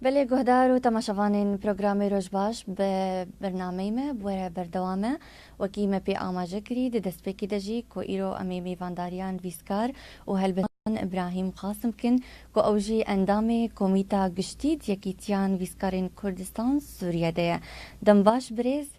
Belê guhdar û temaşevanên programê Rojbaş bi bernameyê me bi were berdewam e. Wekî me pê amaje kirî di destpêkê de jî ku îro em ê mêvandariyan vîskar û helbestan Îbrahîm Qasim bikin ku ew jî endamê Komîta Giştî di Yekîtiyan Vîskarên Kurdistan Sûriye de ye. Dembaş birêz.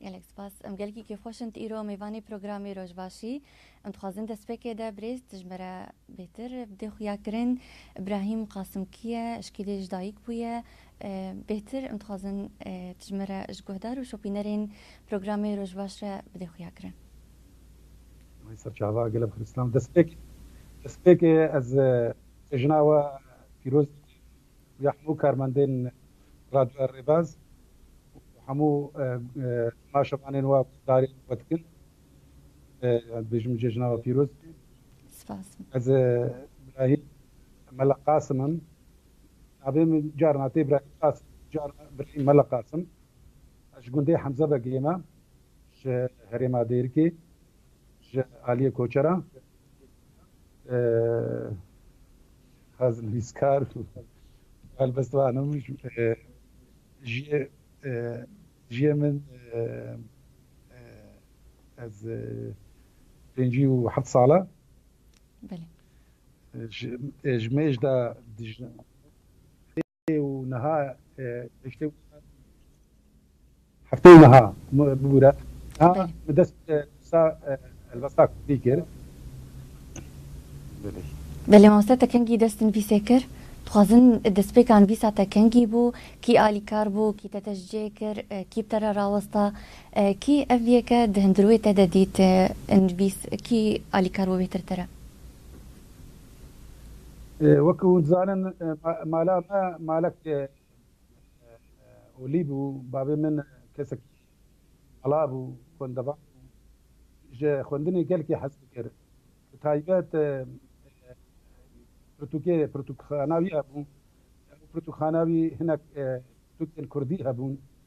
Gelek spas. Em gelkî kêfxweş in tu îro mêvanê programê Roj baş î. Em dixwazin destpêkê de birêz tu ji me re bêtir bidê xuyakirin. Îbrahîm Qasimkî ye, êşkî dê ji dayîk bûye. Bêtir em dixwazin tu ji me re ji guhdar û şopînerên programê Roj baş re bidê xuyakirin. May ser çava gelê bi xiristinan destpêk destpêkê ez ji jina we pîroz dikim. ya hemû karmendên Radyoya Rêbaz û hemû maşevanên we guhdarên we dikin. Dibêjim cejna we pîroz bê. Spas. Ez Brahîm Mela Qasim im. Navê min carna tê Brahîm Qasim, carna Brahîm Mela Qasim. Ez ji gundê Hemzebegiyê me ji herêma Dêrikê, ji aliyê Koçera. Ez nivîskar û helbestvan im. Jiyê jiyê min ez pêncî û heft sal e. Belê. Ji mêj de dijî. Hefteyê niha bibûre niha bi dest nivîsa helbesta kurdî kir. Belê mamoste te kengî dest nivîsê kir? Dixwazin destpêka nivîsa te kengî bû? Kî alîkar bû? Kî te teşciyê kir? Kî bi te re rawesta? Kî ev yeke di hundirûyê te de dît nivîs? Kî alîkar bû bêhtir te re? Wek hûn dizanin mala me malek olî bû. Bavê min kesekî ala bû, xwendevan bû. Ji xwendinê gelkî hez dikir. Bi taybet pirtûkê pirtûkxana wî hebû. Di pirtûkxana wî hinek pirtûkên kurdî hebûn.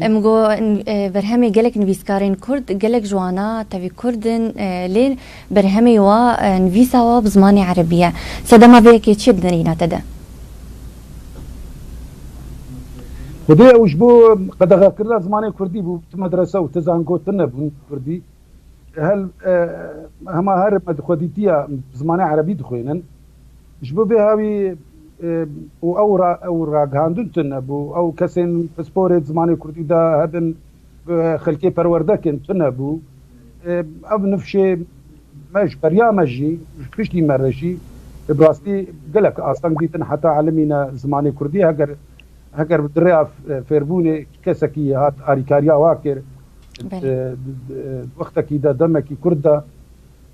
Em got berhemê gelek nivîskarên kurd, gelek ji wana tevî kurd in lê berhemê wa nivîsa wa bi zimanê erebî ye. Sedema vê yekê çi ye di derîna te de? Xwedê ew ji bo qedexekirina zimanê kurdî bû. Tu medrese û tu zango tune bûn kurdî. Hema her me di xwedîtiya bi zimanê erebî dixwînin. Ji bo vê hawî û ew ew ragihandin tune bû. Ew kesên pisporê di zimanê kurdî de hebin bi xelkê perwerde kirin tune bû. Ev nifşê me ji beriya me jî ji piştî me re jî bi rastî gelek asteng dîtin heta elimîne zimanê kurdî heger heger di rêya fêrbûnê kesekî hat alîkariya wa kir di wextekî de demekî kurt de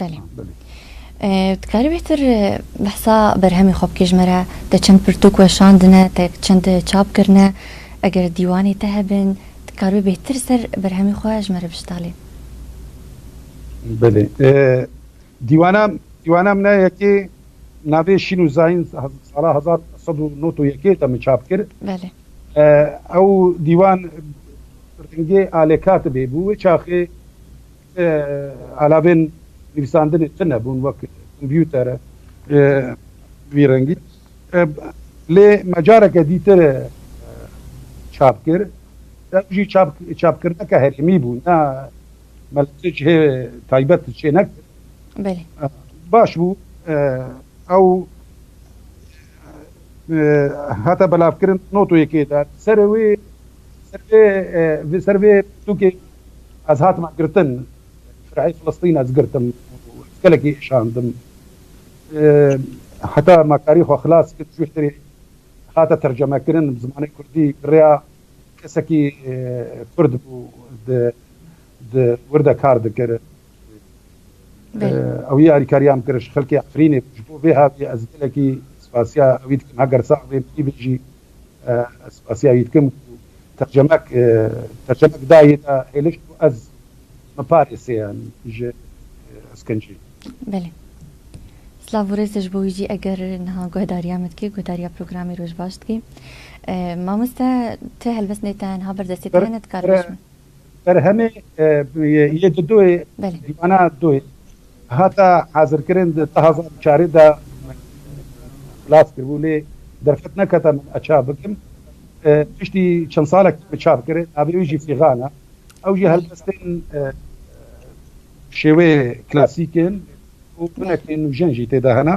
Belê. Dikarî bêhtir behsa berhemê xwe bikê ji me re? Te çend pirtûk weşandine, te çend çap kirine? Eger dîwanê te hebin, dikaribî bêhtir ser berhemê xwe ji me re biştalî? Belê. Dîwana dîwana min e yekê navê Şîn û Zayin sala hezar sed û nod û yekê de min çap kir. Belê. Ew dîwan rengê alê katibê bû. Wê çaxê ti alavên nivîsandinê tune bûn wek kompûter e vî rengî. Lê me careke dîtir çap kir. Ew jî çapkirneke herêmî bû ne me li tu cihê taybet çênekir. Belê. Baş bû ew Hate belavkirin notoyê kê de ser wê ser vê pirtûkê ez hatime girtin şereyê Filistîn ez girtim û ez gelekî êşandim. Heta me karî xwe xilas kir ji hêrê hate tercemekirin bi zimanê kurdî bi rêya kesekî kurd bû di Di wir de kar dikir. Ew yê alîkariya min kir ji xelkê Efrînê bû. Ji bo vê haviyê ez gelekî spasiya wî dikim. Heger sax bê min bê jî ez spasiya wî dikim ku tercemek tercemek da yê da hêlişt ku ez min parêse yan ji eskincê. Belê. Silav û rêz ji bo wî jî eger niha guhedariya min dikî, guhedariya programê Roj baş dikî. Mamoste ti helbest nê te niha berdestê te hene dikare Berhemê yê di doyê dîwana doyê hata hazirkirin di du hezar û çarê de xlas kiribû lê derfet nekete min ez çap bikim. Piştî çend salekî min çap kir, navê wî jî Fîgan e. Ew jî helbestên bi şêweyê klasîk in û binekên nûjen jî tê de hene.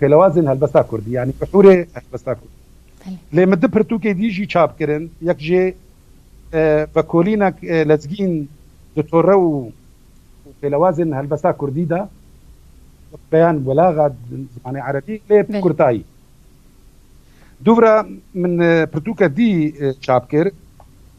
Pêlewazên helbesta kurdî yanî bihûrê helbesta kurdî lê min du pirtûkê dî jî çap kirin. Yek jê vekolînek lezgîn di tore û pêlewazên helbesta kurdî de wek beyan welaxa di zimanê erebî lê bi kurtayî. Dûvira min pirtûke dî çap kir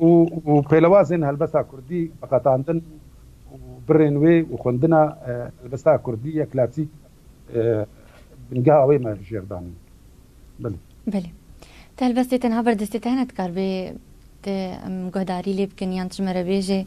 û pêlewazên helbesta kurdî biqetandin û birên wê û xwendina helbesta kurdî ya klasîk bingeha wê me jêr danîn. Belê. Belê. Ti helbestê tenha berdestê te hene? Dikar bê tu em guhdarî lê bikin yan tu ji me re bêjê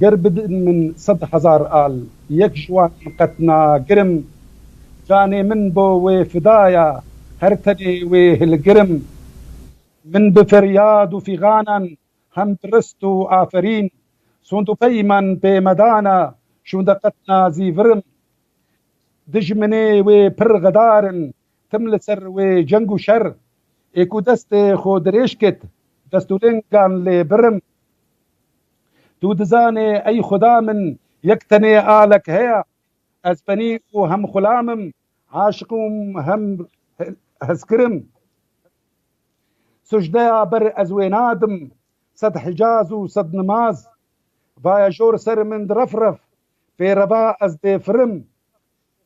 Ger bidin min sed hezar al, yek ji wan qet nagirim, Canê min bo wê fida ya, her tenê wê hilgirim. Min bi feryad û fîganan, hem bi rist û aferîn, Sond û peyman pê me dana, şûnde qet nazîvirim. Dijminê wê pir xedar in, Tim li ser wê ceng û şer ê ku destê xwe dirêj kit, destûlêngan lê birim. Tu dizanê ey Xuda min yek tenê alek heye, ez penî û hem xulam im, aşiq û hem hezkir im. Sucdeya ber ez wê nadim, sed hicaz û sed nimaz. Vaya jor ser min di ref ref, pê reva ez dê firim,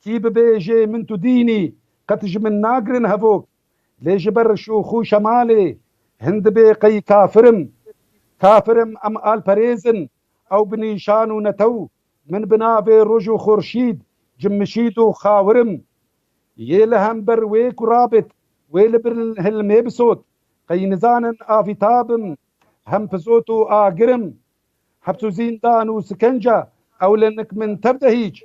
Kî bibêje min tu dînî, qet ji min nagirin hevok. Lê ji ber şûx û şemalê hin dibê qey kafir im. Kafir im em alperêz in, ew bi nîşan û netew min bi navê roj û xorşîd, cimmişîd û xawir im. Yê li hember wê ku rabit, wê li bin hilmê bisot. Qey nizanin avîta bim, hem pizot û agir im, Heps û zîndan û sikenca ewlenik min tev de hîç.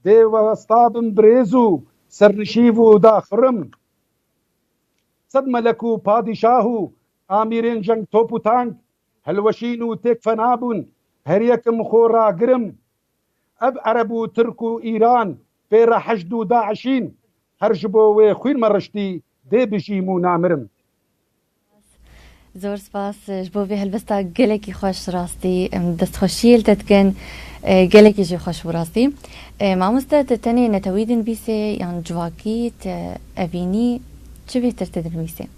Dê westa bim birêz û sernişîv û daxurim. Sed melek û padîşah û amîrên jeng top û tank hilweşîn û têk fena bûn. Her yekim xwe ragirim Ev ereb û tirk û îran pê re heşd û daişîn. Her ji bo wê xwîn me riştî dê bijîm û namirim. Zor spas ji bo vê helbesta gelekî xweş rastî em destxweşiyê li te dikin gelekî jî xweş bû rastî mamoste tu tenê netewî dinivîsê yan civakî tu evînî çi bêhtir tu dinivîsê.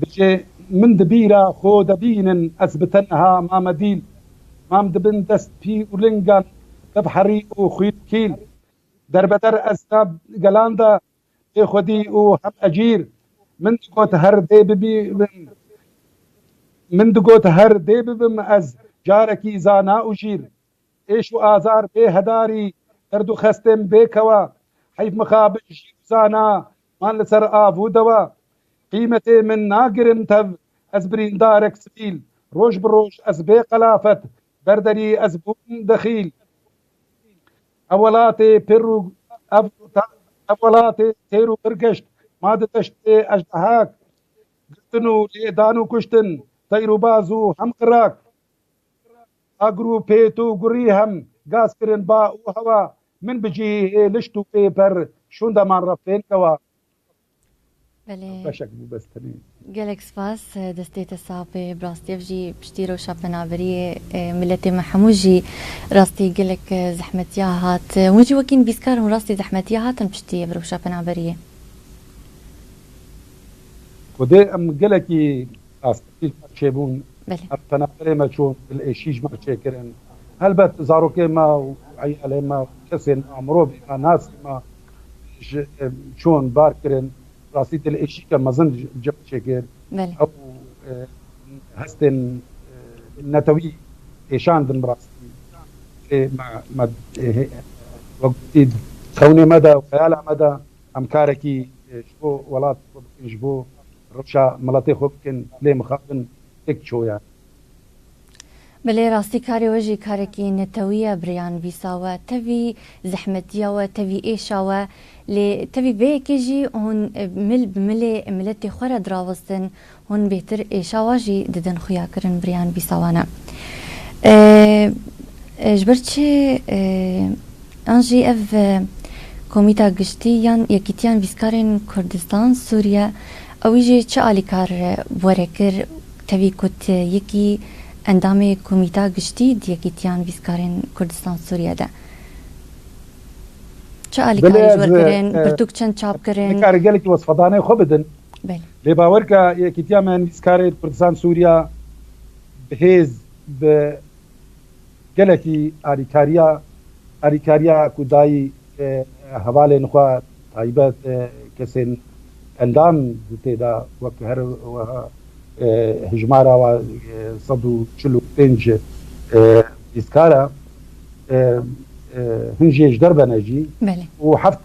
Bijî min di bîra xwe de bînin ez bi tenha mame dîl mam di bin dest pî û lingan de bi herî û xwîl kîl derbeder ez na gelan de bê xwedî û hem ecîr min digot her dê bibim min digot her dê bibim ez carekî zana û jîr Êş û azar bê hedarî, derd û xestên bê kewa, heyf mixabin jî û zana man li ser av û dewa. Qîmetê min nagirin tev, ez birîndarek sivîl, roj bi roj ez bê qelafet, ber derî ez bûm dexîl. Ev welatê pir û ev ev welatê têr û pir geşt, ma di deştê ejdehak, girtin û lêdan û kuştin, teyr û baz û hem qirak. A grûpê tu gurî hem gaz kirin ba û hewa min bi cihî hê lişt û pê per şûnda man re fên kewa. Belê. Ev beşek bû bes tenê. Gelek spas, destê te sax be, bi rastî ev jî piştî rewşa penaberiyê miletê me hemû jî rastî gelek zehmetiya hat. Hûn jî wekî nivîskar hûn rastî zehmetiya hatin piştî ev rewşa penaberiyê. Xwedê em gelekî. Rast e tîj me çêbûn, ev penaberê me çûn, dil ê şîj me çêkirin. Helbet zarokê me û eyalê me û kesên me, mirovê me, nasê me ji çûn bar kirin. Rastî dil êşîke mezin ji me çêkir. Ew hestên netewî kêşandin bi rastî. Erê me wek gotî xewnê me de û eyala me de Em karekî ji bo welat xwe bikin, ji bo rewşa miletê xwe bikin, lê mixabin têk diçoyan. Belê rastî karê we jî karekî netewî ye birêya nivîsa we tevî zehmetiya we tevî êşa we lê tevî vê yekê jî hûn mil bi milê miletê xwe re dirawestin Hûn bêtir ê şawa jî didin xuya kirin biriyan bî sawana. Ee ji ber çi yan jî ev Komîta Giştî yan Yekîtiyan Vîskarên Kurdistan Sûriye ewî jî çi alîkar were kir tevî ku ti yekî endamê Komîta Giştî di Yekîtiyan Vîskarên Kurdistan Sûriye de çi alîkarî ji we kirin, pirtûk çend çap kirin? Nikare gelekî wesfedanê xwe bidin. Lê bawer ke Yekîtiya me Nivîskarê li Kurdistan Sûriya bi hêz bi gelekî alîkariya alîkariya ku dayî hevalên xwe taybet kesên endam di têda wek her weha hijmara wa sed û çil û pênc nivîskar e hin jê ji der bene jî û heft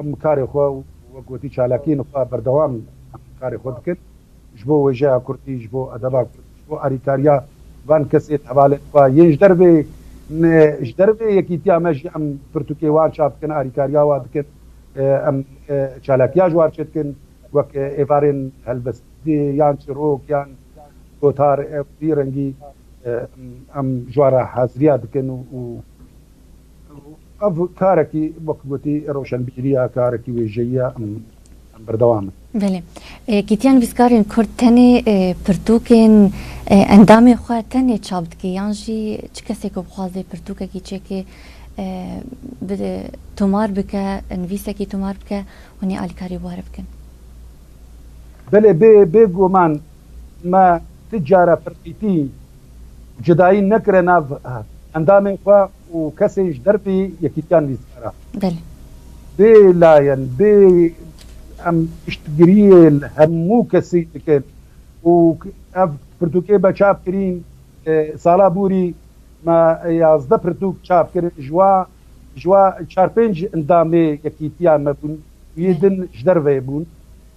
Em karê xwe û wek gotî çalakiyên xwe berdewam in. Em karê xwe dikin ji bo wêjeya kurdî, ji bo edeba kurdî, ji bo alîkariya van kesên hevalên xwe yên ji dervê ne, ji dervê yekîtiya me jî em pirtûkê wan çap dikin, alîkariya wan dikin. Em çalakiya ji wan çêdikin wek êvarên helbestî yan çîrok yan gotar ew vî rengî em ji wan re haziriya dikin û. Ev karekî wek gotî rewşenbîrî ye, karekî wêjeyî ye, em berdewam in. Belê. Yekîtiya Nivîskarên Kurd tenê pirtûkên endamên xwe tenê çap dike yan jî çi kesê ku bixwaze pirtûkekî çêkê bi tomar bike, nivîsekî tomar bike, hûn ê alîkarî were bikin? Belê bê bê guman me ti care pirtîtî Cudayî nekire nav endamên xwe û kesên ji dervê yekîtiyan lîstkara. Belê. Bê layen bê em piştgiriyê li hemû kesî dikin û ev pirtûkê be çap kirîn sala bûrî me yazdeh pirtûk çap kirin ji wa ji wa çar pênc endamê yekîtiyan me bûn û yê din ji derveyê bûn.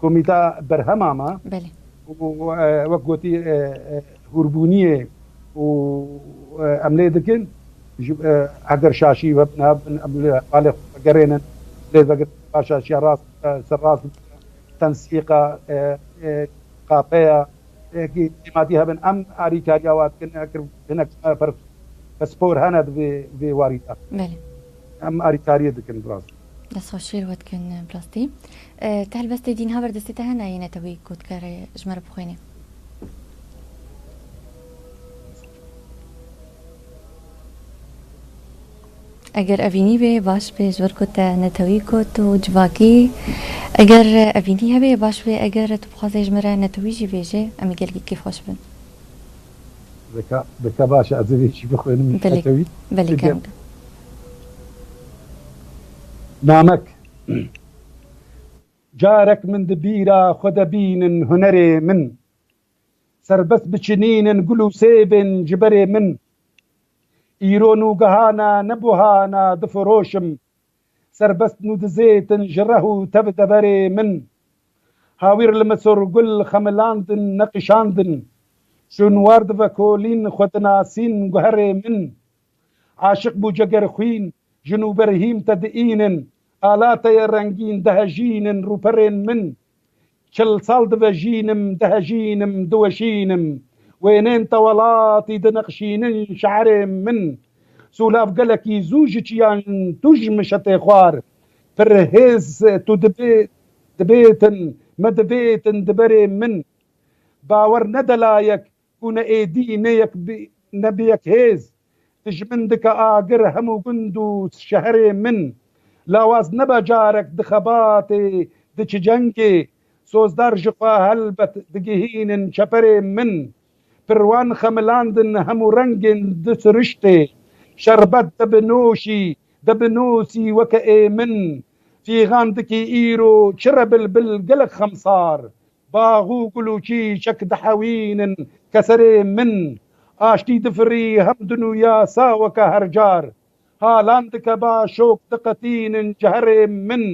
Komîta berhema me û wek gotî hûrbûniyê û em lê dikin heger şaşî we nabin em li hevalê xwe vegerênin lê vegirin va şaşiya rast ser rast tensîqa qapeya ekî cêmatî hebin em alîkariya wan dikin heger hinek pispor hene di vê warî de em alîkariyê dikin bi rastî. Dest xweş jî li we dikin bi rastî. Te helbestê dîn ha ber destê te hene yê netewî ku dikare ji me re bixwêne. Eger evînî bê baş bê ji ber ku te netewî got û civakî eger evînî hebê baş bê eger tu bixwazê ji me re netewî jî bêjê em ê gelekî kêfxweş bibin. Bike baş e ez ê vê jî bixwînim li Tetewî. Belê belê kem. Namek Carek min di bîra xwe de bînin hunerê min Serbest biçinînin gul û sêvên ji berê min Îro nûgehana ne buhana difiroşim Serbest Nûdizêtin ji reh û tev deverê min. Hawîr li Misur gul xemilandin, neqîşandin. Şûnwar divekolîn, xwe dinasîn guherê min. Aşiq bû cegerxwîn, ji nû ber hîm te diînin. Ala te ye rengîn, dihejînin rûperên min. Çil sal divejînim, dihejînim, diweşînim. Wênên te welatî dinixşînin şe'irê min. Sûlav gelekî zû ji çiyan tu ji min şetê xwar. Pir hêz tu dibê, dibêtin, me dibêtin di berê min. Bawer ne delayek Ku ne êdî ne yek bî ne bi yek hêz, tu ji min dike agir hemû gund û şeherê min. Lawaz nebe carek di xebatê, di çicengê, sozdar ji xwe helbet digihînin çeperê min. Pirwan xemilandin hemû rengên di siriştê. Şerbet de bi noşî, de bi nosî weke ê min. Fîgan dikî îro çi re bilbil gelek xemsar. Bax û gul û çîçek dihewînin ke serê min. Aştî difirî hem dinûya saweke hercar. Halan dike ba şok diqetînin ji herê min.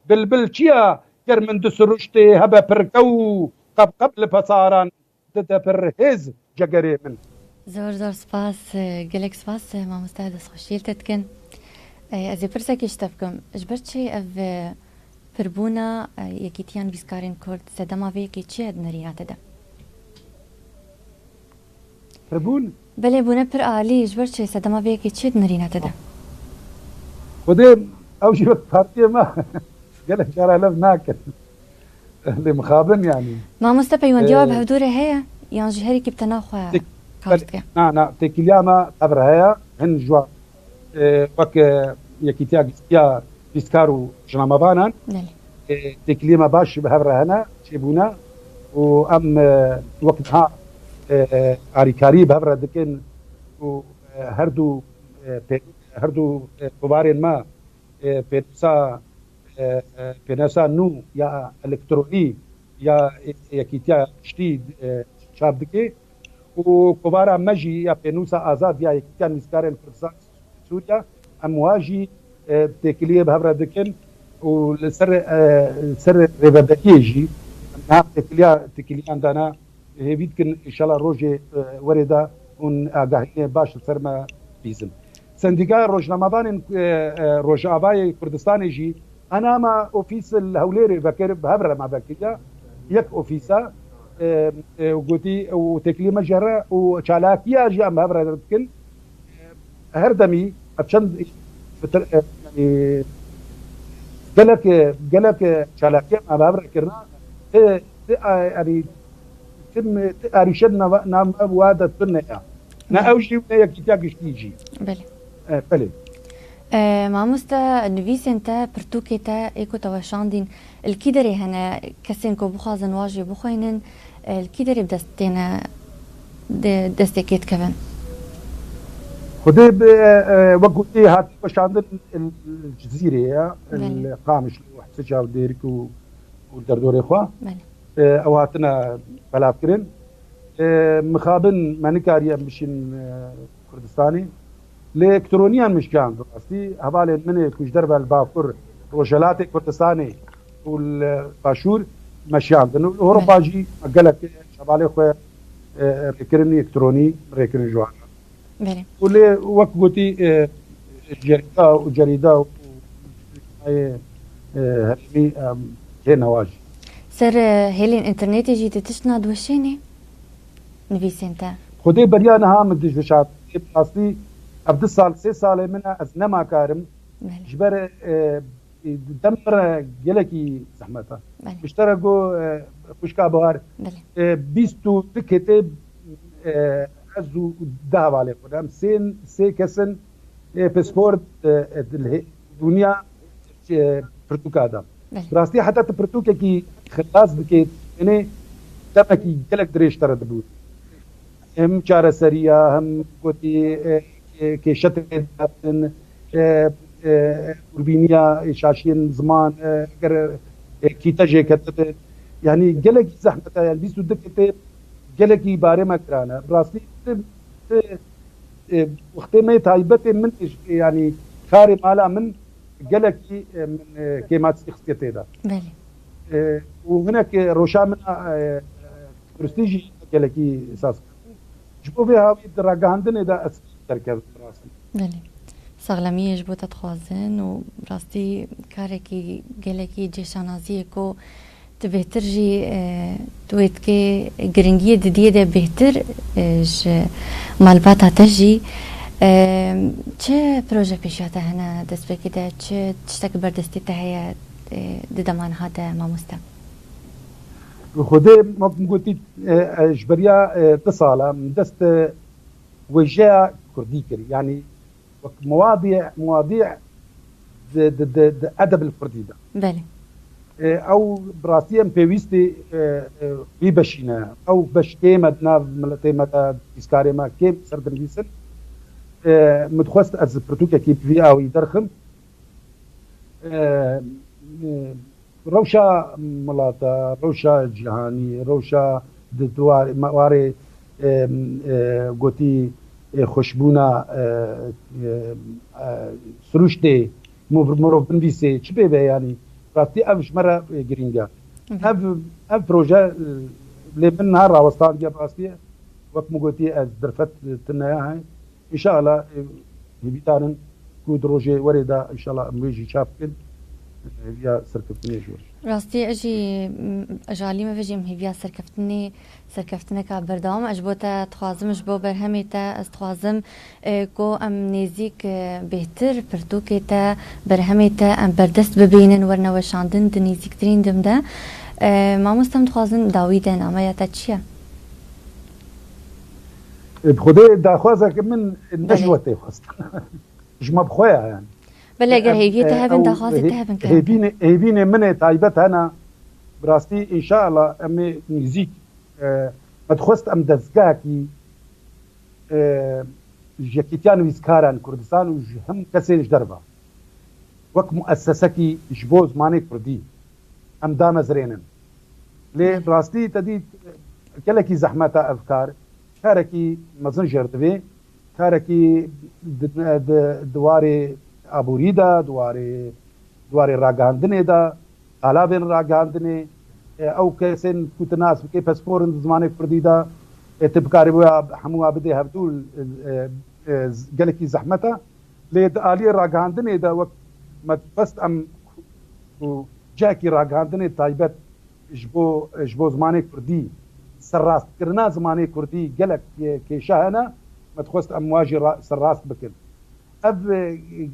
Bilbil çiya ger min di siruştê hebe pirke û qebqeb li pesaran Dide pir hêz cegerê min. Zor zor spas gelek spas mamoste destxweşiyê li te dikin ez ê pirsekê ji te bikim ji ber çi ev pirbûna yekîtiya nivîskarên kurd sedema vê yekê çi ye di nerîna te de? Pirbûn Belê bûne pir alî, ji ber çi? Sedema vê yekê çi dinirîne te de? Xwedê ew jî wek partiyê me gelek cara lev nakin lê mixabin yanî. Mamoste peywendiya we bi hevdû re heye yan jî herî kî bi tena xwe kar dike? Na na têkiliya me tev re heye hin ji wan Wek Yekîtiya Giştiya Pîskar û Jinamavanan têkiliyema baş jî bi hev re hene, çêbûne û em wek niha alîkariyê bi hev re dikin û her du her du kovarên me pênûsa pênûsa nû ya elektronî ya Yekîtiya Giştî çap dike. Û kovara me jî ya pênûsa azad ya Yekîtiya Nivîskarên Kurdistanê ji Sûdên Sûriye, em wiha jî bi têkiliyê bi hev re dikin û li ser li ser rêveberiyê jî em niha têkiliya têkiliyan dane. Hêvî dikin înşela rojê werê de hûn agahînê baş li ser me bîzin. Sendîkaya Rojnamevanên Rojavayê Kurdistanê jî, Enama ofîs li Hewlêrê vekir bi hev re me vekiriya yek ofîsa û gotî ew têkiliyê me ji here û çalakiya jî em bi hev re dikin. Her demî ev çend gelek gelek çalakiya me bi hev re kirina ti ti yanî ti ti arîşe di nava nava we de tune ya. Na ew jî ne yekîtiya giştî jî. Belê. Belê. Mamoste nivîsên te, pirtûkê te ê ku te weşandîn li kî derê hene? Kesên ku bixwazin wajê bixwînin li kî derê bi dest têne dê destê kê dikevin? Xwedê bi wek ku ê hatiye weşandin li Cizîrê ye, li Qamişlo, Hise Çavdêrk û derdorê xwe ew hatine belavkirin. Mixabin me nikariye em biçin Kurdistanê. Lê ektroniyan mişkan bi rastî hevalên min ê ku ji derve li Bakur, Rojhelatê Kurdistanê û li Başûr me şiyandin û li Ewropa jî me gelek hevalên xwe rêkirinî ekronî rêkirin ji wan re. Û lê wek gotî cerîda û cerîda û nayê herêmî em hê newa jî. Ser hêlên înternetê jî di tişt nadiweşênê? nivîsên te. Xwedê beriya niha min tu jweşat. Ê bi rastî ev du sal sê salê min e ez nema karim ji ber dem mir e gelekî zehmet e. Piştre got xwişka Bihar bîst û du ketê ez û du hevalên xwe ne em sê kes in ê pisport li Dûnya ji pirtûka de. Bi rastî heta tu pirtûkekî xilas bikê tenê demekî gelek dirêj te re dibû. Hem çareseriya hem gotî kêşe tê dabin. Hûrbîniya şaşiyên ziman eger kîte jê ketibin yanî gelekî zehmet e. Yanî bîst û du kitêb gelekî barê me giran e. Bi rastî tu Wextê me yê taybetê min ê jî yanî karê mala min gelekî min kêmatî xistîye tê de. Belê. Û hinek roşa min a tenduristî jî gelekî saz kerdin. Ji bo vê hawî di ragihandinê de ez kêm derkevim bi rastî. Belê. Saxlemî yê ji bo te dixwazin û bi rastî karekî gelekî cêşanazî ye ku Ti bêhtir jî tu wê dikê giringiyê didiyê de bêhtir ji malbata te jî çi proje pêşiya te hene destpêkê de çi tiştek li ber destê te heye di dema niha de mamoste? Xwedê wek min gotî ji beriya du sal e min dest wêjeya kurdî kir yanî Wek muwadî muwadî di di di di edebl kurdî de. Belê. Ew bi rastî em pêwîstî wî beşî ne. Ew beş kêm e di nav miletê me de, di pîskarê me kêm ser dinivîsin. Min dixwest ez pirtûkekî bi vî awî derxim Rewşa milata, rewşa cîhanî, rewşa di warê gotî xweşbûna sirûştê mirovnivîsê çi pê be yanî rastî ev ji me re girîng e. Ev ev proje lê min niha rawestandiye bi rastî wek min gotî ez derfet tune Înşeala em hêvîdar in ku di rojê werê de înşeala em wê jî çap bikin, hêviya serkeftinê ji wir. Rastî ez jî ji alî me ve jî em hêviya serkeftinê serkeftineka berdewam e. Ji bo te dixwazim ji bo berhemê te ez dixwazim ku em nêzîk bêhtir pirtûkê te berhemê te em berdest bibînin werine weşandin di nêzîktirîn dem de. Mamoste em dixwazin dawî de nameya te çi ye? Bi Xwedê daxwaza ke min ne ji we tê xwest. Ji me bi xwe ya yani. Belê eger hêviyê te hebin daxwazê te hebin ke. Hêvînê min ê taybet hene. Bi rastî înşeala em ê nîzîk me dixwest em dezgehekî ji Yekîtiya Nivîskaran Kurdistan û ji him kesên ji derve wek muessesekî ji bo zimanê kurdî em damezrênin. Lê bi rastî te dît gelekî zehmet e ev kar. Karekî mezin jêr divê. Karekî di warê aborî de, di warê di warê ragihandinê de, qalavên ragihandinê, ew kesên ku tu nas bikî pespor in di zimanê kurdî de, tu bikarî wê hemû a bidê hevdû gelekî zehmet e. Lê di aliyê ragihandinê de wek me dixwest em ku Cihekî ragihandinê taybet ji bo ji bo zimanê kurdî, serrastkirina zimanê kurdî gelek kêşa hene, me dixwest em wa jî serrast bikin. Ev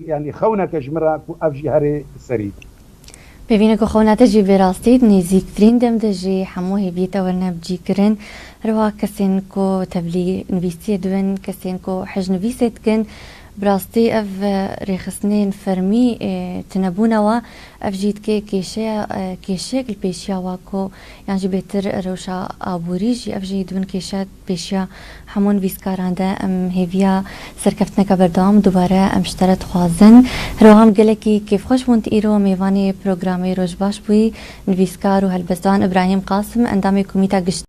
yanî xewnek e ji min re ku ev jî herê serî be. Pêvîne ku xewna te jî vê rastî di nêzîktirîn dem de jî hemû hêviyê te werine bicîkirin. Her wiha kesên ku tevlî nivîsiyê dibin, kesên ku hejnivîsê dikin, bi rastî ev rêxistinên fermî tunebûne we. Ev jî dike kêşeya kêşeyek li pêşiya wa ku yan jî bêtir rewşa aborî jî ev jî dibin kêşe pêşiya hemû nivîskaran de. Em hêviya serkeftineke berdewam dubare em ji te re dixwazin. Hiroham gelekî kêfxweş bûn tu îro mêvanê programê Roj baş bûyî. Nivîskar û helbestvan Ibrahîm Qasim endamê Komîta Giştî.